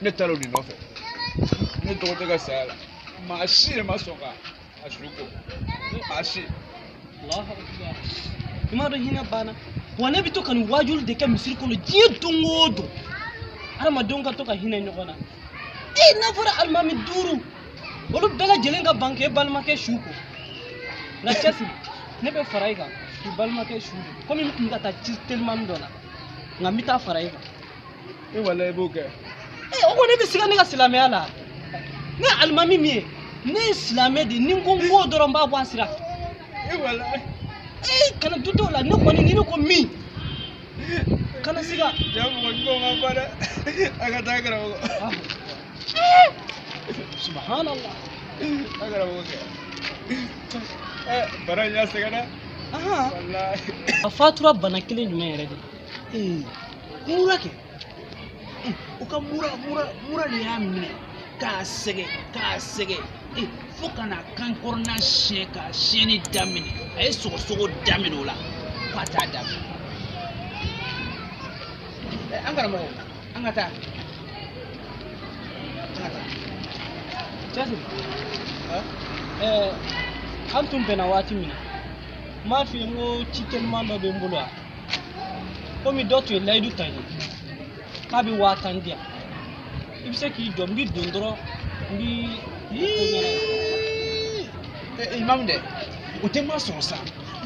ne taara o de nɔfɛ ne dɔgɔcɛ ka saya la maa si yɛrɛ ma sɔn ka a su ko maa si i m'a dɔn hinɛ banna wa ne bɛ to ka nin waajuli de kɛ misiri kɔnɔ diɲɛ don o don adamadenw ka to ka hinɛ ɲɔgɔn na e n'a fɔra alimami duuru olu bɛɛ lajɛlen ka ban k'e balimakɛ su ko nka cɛsiri ne bɛ fara i kan k'i balimakɛ su ko komi n tun bɛ ka taa ci telimani dɔ la nka n bɛ taa fara i kan e wala i b'o kɛ ee o ko i bɛ siga ne ka silamɛya la ne ye alimami min ye ne ye silamɛ de ni n ko n b'o dɔrɔn n b'a bɔ a sira fɛ e wala ee kana dut'o la ne kɔni ni ne ko min kana siga jaa mɔgɔ ɲuman ma ban dɛ an ka taa karamɔgɔ Ah. Eh, subhanallah a karamɔgɔ kɛ ɛ bana in y'a sɛgɛn dɛ ahan walayi a fatura bana kelen jumɛn yɛrɛ de ee mura kɛ ee o ka mura mura mura de y'a minɛ k'a sɛgɛn k'a sɛgɛn ee fo ka na kan kɔrɔna siɲɛ k'a siɲɛni daminɛ a ye sɔgɔsɔgɔ daminɛ o la fo ka taa daminɛ ɛ an karamɔgɔ an ka taa an ka taa cɛsiri, ɛɛ an tun bɛnna waati min na n m'a f'i ye n ko ci teliman dɔ bɛ n bolo yan komi dɔ tun ye layidu ta n ye k'a bɛ waa tan di yan i bɛ se k'i jɔ n bɛ don dɔrɔn n b'i ko ɲɛna ye. imamu dɛ o tɛ ma sɔrɔ sa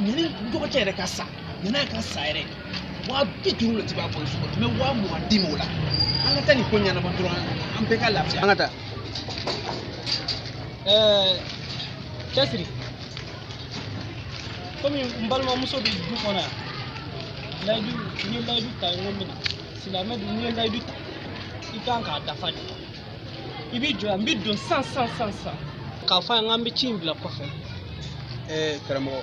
ɲani dɔgɔcɛ yɛrɛ ka sa ɲani a ka sa yɛrɛ waa bi duuru de tun b'a bolo so kɔnɔ n bɛ waa mugan d'i ma o la an ka taa nin ko ɲɛnabɔ dɔrɔn an bɛɛ ka lafiya an ka taa ɛɛ cɛsiri komi n balimamuso bɛ du kɔnɔ yan layidu n ye layidu ta n ko n bɛna silamɛ dun n'i ye layidu ta i kan k'a dafa de i b'i jɔ yan n bɛ don san san san san k'a fɔ a ye n k'an bɛ ci in bila kɔfɛ. ɛɛ karamɔgɔ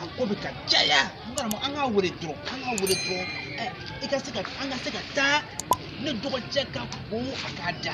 a ko bɛ ka caya n karamɔgɔ an k'a wele dɔrɔn an k'a wele dɔrɔn ɛ i ka se ka an ka se ka taa ne dɔgɔcɛ ka ko a ka da.